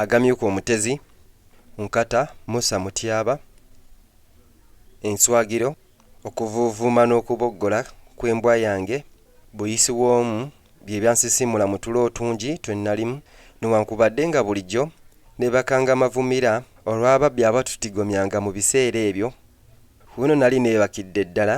Agamyuka Omutezi, Nkata, Musa Mutyaba, Enswagiro, Okuvuuvuuma n'okuboggola kw'embwa yange, Buyisi w'omu bye byansisimula mu tulo otungi twe nnalimu newankubadde nga bulijjo neebakanga mavumira olw'ababbi abatutigomyanga mu biseera ebyo. Ku bino nnali neebakidde ddala.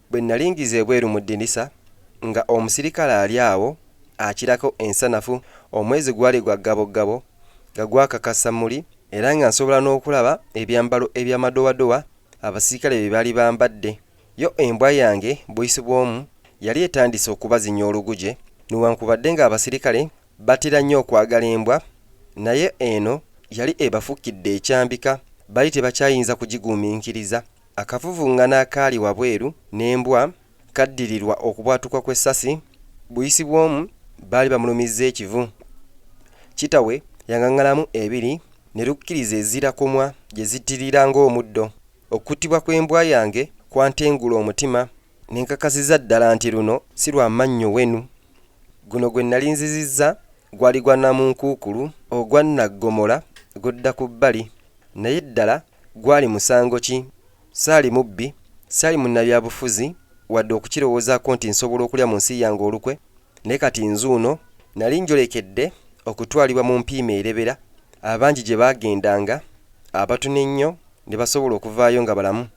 Bwe nnali ngize ebweru mu ddinisa, nga omusirikale ali awo akirako ensanafu, omwezi gwali gwa ggaboggabo, nga gwakaka samuli, era nga nsobola n'okulaba ebyambalo eby'amadowadowa abasirikale bye baali bambadde. Yo embwa yange, buyisi bw'omu, yali etandise okubazinya oluguje. Newankubadde nga abasirikale batera nnyo okwagala embwa, naye eno yali ebafukidde ekyambika, baali tebakyayinza kugigumiikiriza. Akavuvung'ano akaali wabweru n'embwa kaddirirwa okubwatuka kw'essasi buyisi bw'omu baali bamulumizza ekivu. Kitawe yang'ang'alamu ebiri ne lukkiriza ezira komwa gye zittirira ng'omuddo. Okuttibwa kw'embwa yange kwantengula omutima ne nkakasiza ddala nti luno si lwa mannyo wenu. Guno gwe nnali nzizizza gwali gwa namunkuukulu ogwa nnaggomola gudda ku bbali. Naye ddala Gwali musango ki? Saali mubbi, saali munnabyabufuzi, wadde okukirowoozaako nti nsobola okulya mu nsi yange olukwe. Naye kati nzuuno. Nnali njolekedde okutwalibwa mu mpiima erebera, abangi gye baagendanga, abatono ennyo ne basobola okuvaayo nga balamu.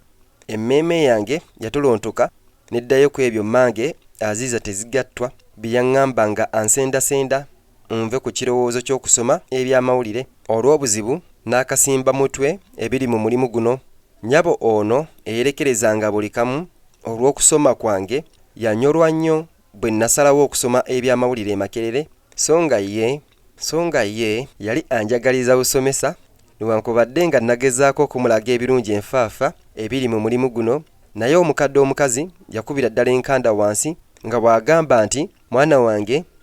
Emmeeme yange yatolontoka n'eddayo ku ebyo mmange Aziza Tezigattwa bye yaŋŋamba nga ansendasenda. Munve ku kirowoozo ky'okusoma eby'amawulire olw'obuzibu n'akasimba mutwe ebiri mu mulimu guno. Nnyabo ono eyerekerezanga buli kamu olw'okusoma kwange yanyolwa nnyo bwe nnasalawo okusoma eby'amawulire e Makerere so nga ye so nga ye yali anjagaliza busomesa newankubadde nga nnagezaako okumulaga ebirungi enfaafa ebiri mu mulimu guno naye omukadde omukazi yakubira ddala enkanda wansi nga bw'agamba nti mwana wange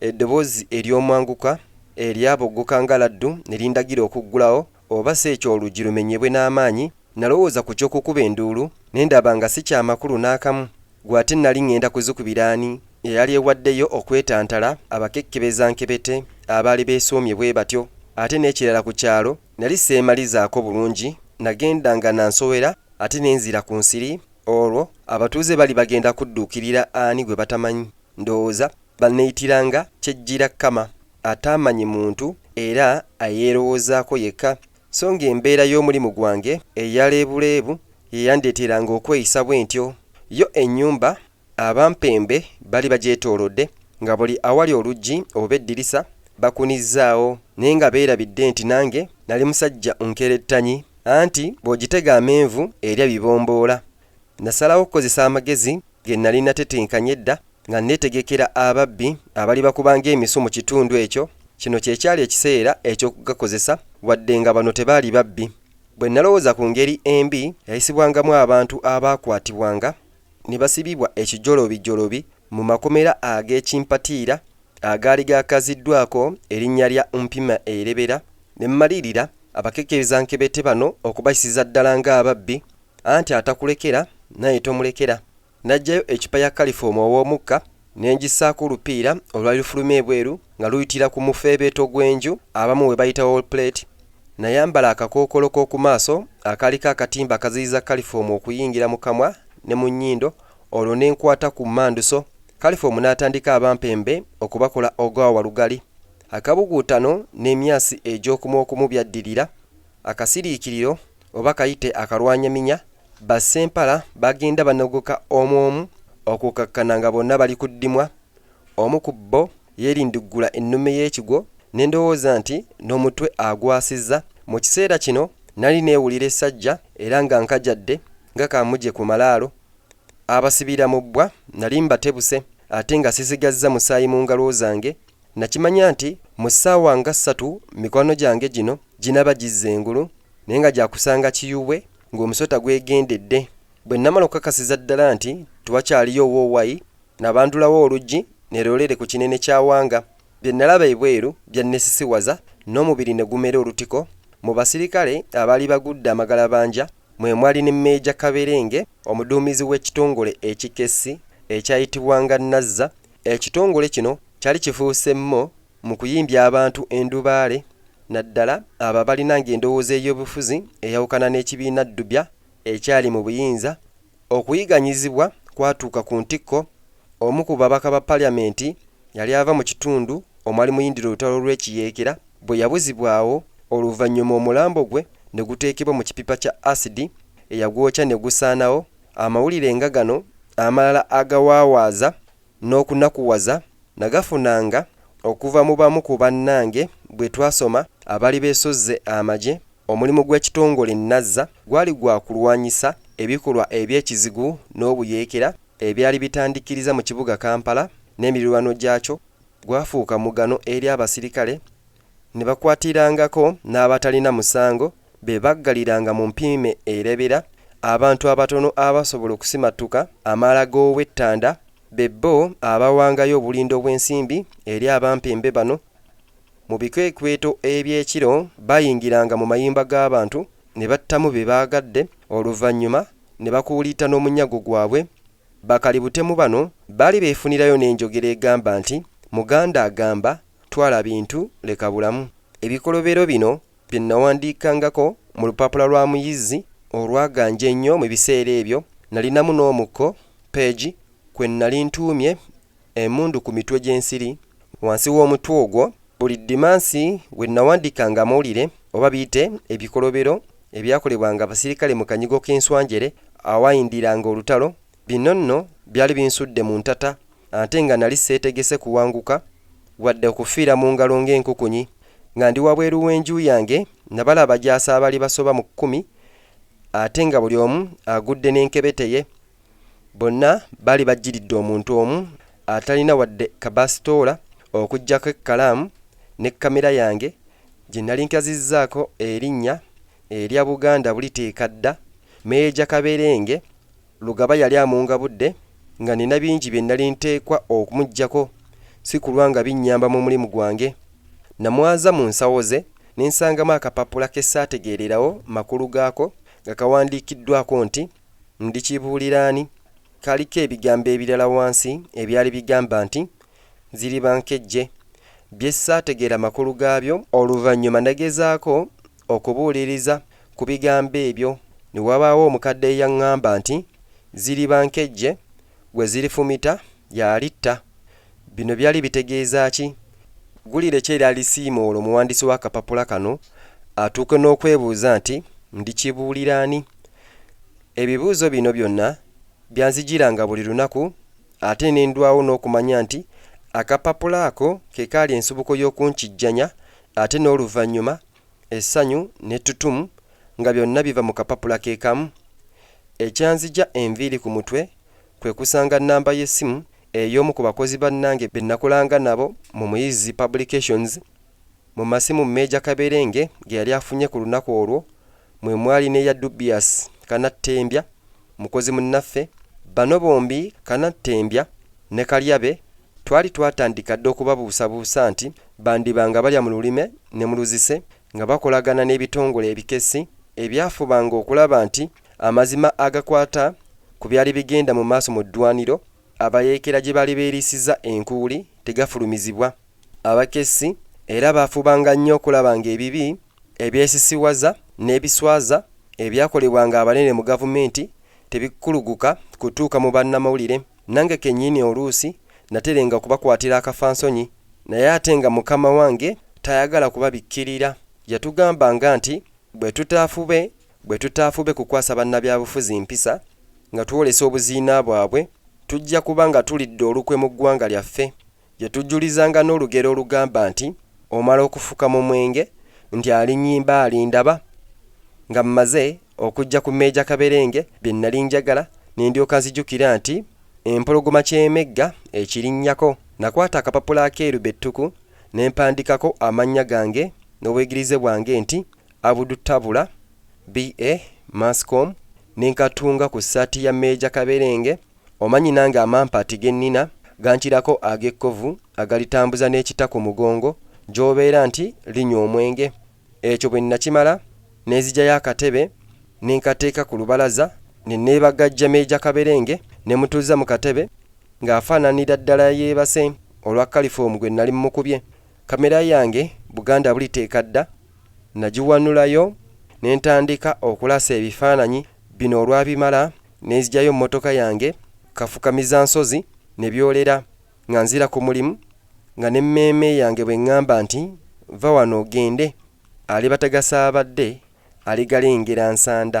Eddoboozi ery'omwanguka eryaboggoka nga laddu ne lindagira okuggulawo oba si ekyo oluggi lumenyebwe n'amaanyi. Nnalowooza ku ky'okukuba enduulu, ne ndaba nga si kya makulu n'akamu. Ggwe ate nnali ŋŋenda kuzikubira ani? Eyali ewaddeyo okwetantala, abakekkebeza nkebete abaali beesoomye bwe batyo. Ate n'ekirala ku kyalo nnali seemalizaako bulungi, nnagendanga na nsowera ate ne nzira ku nsiri. Olwo abatuuze bali bagenda kudduukirira ani gwe batamanyi? Ndowooza baneyitira nga kyejjira Kama ataamanyi muntu era ayeerowoozaako yekka, so ng'embeera y'omulimu gwange eya leebuleebu ye yandeeteranga okweyisa bwentyo. Yo ennyumba abampembe bali bagyetoolodde, nga buli awali oluggi oba eddirisa bakunizzaawo, naye nga beerabidde nti nange nali musajja nkerettanyi, anti bw'ogitega amenvu erya bibomboola. Nnasalawo okukozesa amagezi ge nnali nnatetenkanya edda nga nneetegekera ababbi abalibakuba ng'emisu mu kitundu ekyo. Kino kye kyali ekiseera eky'okugakozesa, wadde nga bano tebaali babbi. Bwe nnalowooza ku ngeri embi yayisibwangamu abantu abaakwatibwanga ne basibibwa ekijolobijolobi mu makomera ag'ekimpatiira agaali gaakaziddwako erinnya lya Mpima Erebera, ne mmalirira abakekerezankebete bano okubayisiza ddala ng'ababbi Anti atakulekera naye tomulekera. Naggyayo eccupa ya kalifoomu ow'omukka ne ngissaako olupiira olwali lufuluma ebweru nga luyitira ku mufeebeeto gw'enju abamu we bayita wall plate. Nayambala akakookolo k'oku maaso akaaliko akatimba akaziyiza kalifoomu okuyingira mu kamwa ne mu nnyindo olwo ne nkwata ku mmanduso kalifoomu n'atandika abampembe okubakola ogwa walugali. Akabuguutano n'emyasi egy'okumu okumu byaddirira. Akasiriikiriro oba kayite akalwanyaminya, ba Ssempala bagenda banogoka omu omu okukakkana nga bonna bali ku ddimwa. Omu ku bbo yeerindiggula ennume y'ekigwo ne ndowooza nti n'omutwe agwasizza. Mu kiseera kino nali neewulira essajja era nga nkajadde nga kaamuje ku malaalo. Abasibira mu bbwa nali mbatebuse ate nga sisigazza musaayi mu ngalo zange Nnakimanya nti mu ssaawa nga ssatu mikwano gyange gino ginaaba gizze engulu, naye nga gya kusanga kiyubwe ng'omusota gwegendedde. Bwe nnamala okukakasiza ddala nti tewakyaliyo woowayi, nabandulawo oluggi ne loleere ku kinene kya Wanga. Bye nnalaba ebweru byannesisiwaza n'omubiri ne gumera olutiko. Mu basirikale abaali bagudde amagalabanja mwe mwali ne Meeja Kaberenge, omuduumizi w'ekitongole ekikessi ekyayitibwanga Nazza. Ekitongole kino kyali kifuuse mmo mu kuyimbya abantu endubaale naddala abo abalinanga endowooza ey'obufuzi eyawukana n'ekibiina Ddubya ekyali mu buyinza. Okuyiganyizibwa kwatuuka ku ntikko, omu ku babaka ba Parliament yali ava mu kitundu omwali muyindira olutalo lw'ekiyeekera bwe yabuzibwawo oluvannyuma omulambo gwe ne guteekebwa mu kipipa kya asidi eyagwokya ne gusaanawo Amawulire nga gano amalala agawaawaaza n'okunakuwaza nagafunanga okuva mu bamu ku bannange bwe twasoma abaali beesozze amagye. Omulimu gw'ekitongole Nazza gwali gwa kulwanyisa ebikolwa eby'ekizigu n'obuyeekera ebyali bitandikiriza mu kibuga Kampala n'emirirwano gyakyo gwafuuka mugano eri abasirikale, Ne bakwatirangako n'abatalina musango be baggaliranga mu mpiime erebera, abantu abatono abasobola okusimattuka amaala g'ow'ettanda, be bo abawangayo obulindo bw'ensimbi eri abampembe bano. Mu bikwekweto eby'ekiro bayingiranga mu mayumba g'abantu ne battamu be baagadde, oluvannyuma ne bakuuliita n'omunyago gwabwe Bakali butemu bano baali befunirayo nenjogera egamba nti Muganda agamba twala bintu leka bulamu. Ebikolobero bino bye nawandiikangako mu lupapula lwa Muyizzi olwaganja ennyo mu biseera ebyo, nalinamu n'omukko, page, kwe nali ntuumye Emundu ku mitwe gy'ensiri, wansi w'omutwe ogwo. Buli ddimansi we nnawandiikanga amawulire, oba biyite ebikolobero, ebyakolebwanga abasirikale mu kanyigo k'enswanjere awaayindiranga olutalo, bino nno byali binsudde mu ntata, ante nga nali seetegese kuwanguka, wadde okufiira mu ngalo ng'enkukunyi. Nga ndi wabweru w'enju yange, nnabala abajaasi abaali basoba mu kkumi, ate nga buli omu agudde n'enkebete ye. Bonna baali bajjiridde omuntu omu atalina wadde kabaasitoola okuggyako ekkalaamu ne kkamera yange gye nali nkazizzaako erinnya erya Buganda Buliteeka Dda. Meeja Kaberenge Lugaba yali amungabudde nga nnina bingi bye nali nteekwa okumuggyako si kulwa nga binnyamba mu mulimu gwange. Namwaza mu nsawo ze ne nsangamu akapapula ke saategeererawo makulu gaako nga kawandiikiddwaako nti. Ndikibuulira ani? Kaliko ebigambo ebirala wansi ebyali bigamba nti, Ziriba nkejje, bye ssaategeera makulu gaabyo. Oluvannyuma nagezaako okubuuliriza ku bigambo ebyo, ne wabaawo omukadde eyaŋŋamba nti, Ziriba nkejje, Gwe zilifumita y'alitta. Bino byali bitegeeza ki? Ggulire ki erya lisiimuula omuwandiisi w'akapapula kano atuuke n'okwebuuza nti, Ndikibuulira ani? Ebibuuzo bino byonna byanzijiranga buli lunaku ate ne ndwawo n'okumanya nti akapapula ako ke kaali ensibuko y'okunkijjanya ate n'oluvannyuma essanyu n'ettutumu nga byonna biva mu kapapula ke kamu. Ekyanzigya enviiri ku mutwe kwe kusanga nnamba y'essimu ey'omu ku bakozi bannange be nakolanga nabo mu Muyizzi Publications. Mu masimu Meeja Kaberenge ge yali afunye ku lunaku olwo mwe mwali n'eya Dubious Kanattembya Mukozi munnaffe, bano bombi Kanattembya ne Kalyabe twali twatandika dda okubabuusabuusa nti bandiba nga balya mu lulime ne mu luzise nga bakolagana n'ebitongole ebikessi ebyafubanga okulaba nti amazima agakwata ku byali bigenda mu maaso mu ddwaaniro abayeekera gye baali beeriisizza enkuuli tegafulumizibwa. Abakessi era baafubanga nnyo okulaba ng'ebibi, ebyesisiwaza n'ebiswaza ebyakolebwanga abanene mu gavumenti tebikuluguka kutuuka mu bannamawulire. Nange kennyini oluusi naterenga okubakwatira akafansonyi naye ate nga mukama wange tayagala kubabikkirira. Yatugambanga nti bwe tutaafube bwe tutaafube kukwasa bannabyabufuzi mpisa nga twolesa obuziina bwabwe, tujja kuba nga tulidde olukwe mu ggwanga lyaffe. Gye tujjulizanga n'olugero olugamba nti, Omala okufuka mu mwenge, nti alinnyimba alindaba, nga mmaze okujja ku Meeja Kaberenge bye nnali njagala ne ndyoka nzijukira nti Empologoma ky'emegga ekirinnyako. Nakwata akapapula akeeru be ttuku ne mpandiikako amannya gange n'obwegirize bwange nti Abudu Tabula, BA, Mass Comm, ne nkatunga ku ssaati ya Meeja Kaberenge. Omanyi nange amampaati ge nnina gankirako ag'ekkovu agalitambuza n'ekita ku mugongo gy'obeera nti linywa omwenge. Ekyo bwe nnakimala ne nzigyayo akatebe ne nkateeka ku lubalaza ne neebagajja Meeja Kaberenge ne mutuuzza mu katebe ng'afaananira ddala yeebase olwa kalifoomu gwe nnali mmukubye. Kamera yange Buganda buliteeka dda nagiwanulayo ne ntandika okulasa ebifaananyi bino olwabimala ne nzigyayo mmotoka yange kafukamizansozi ne byolera nga nzira ku mulimu nga n'emmeeme yange bw'eng'amba nti vva wano ogende alibatagasa abadde aligalengera nsanda.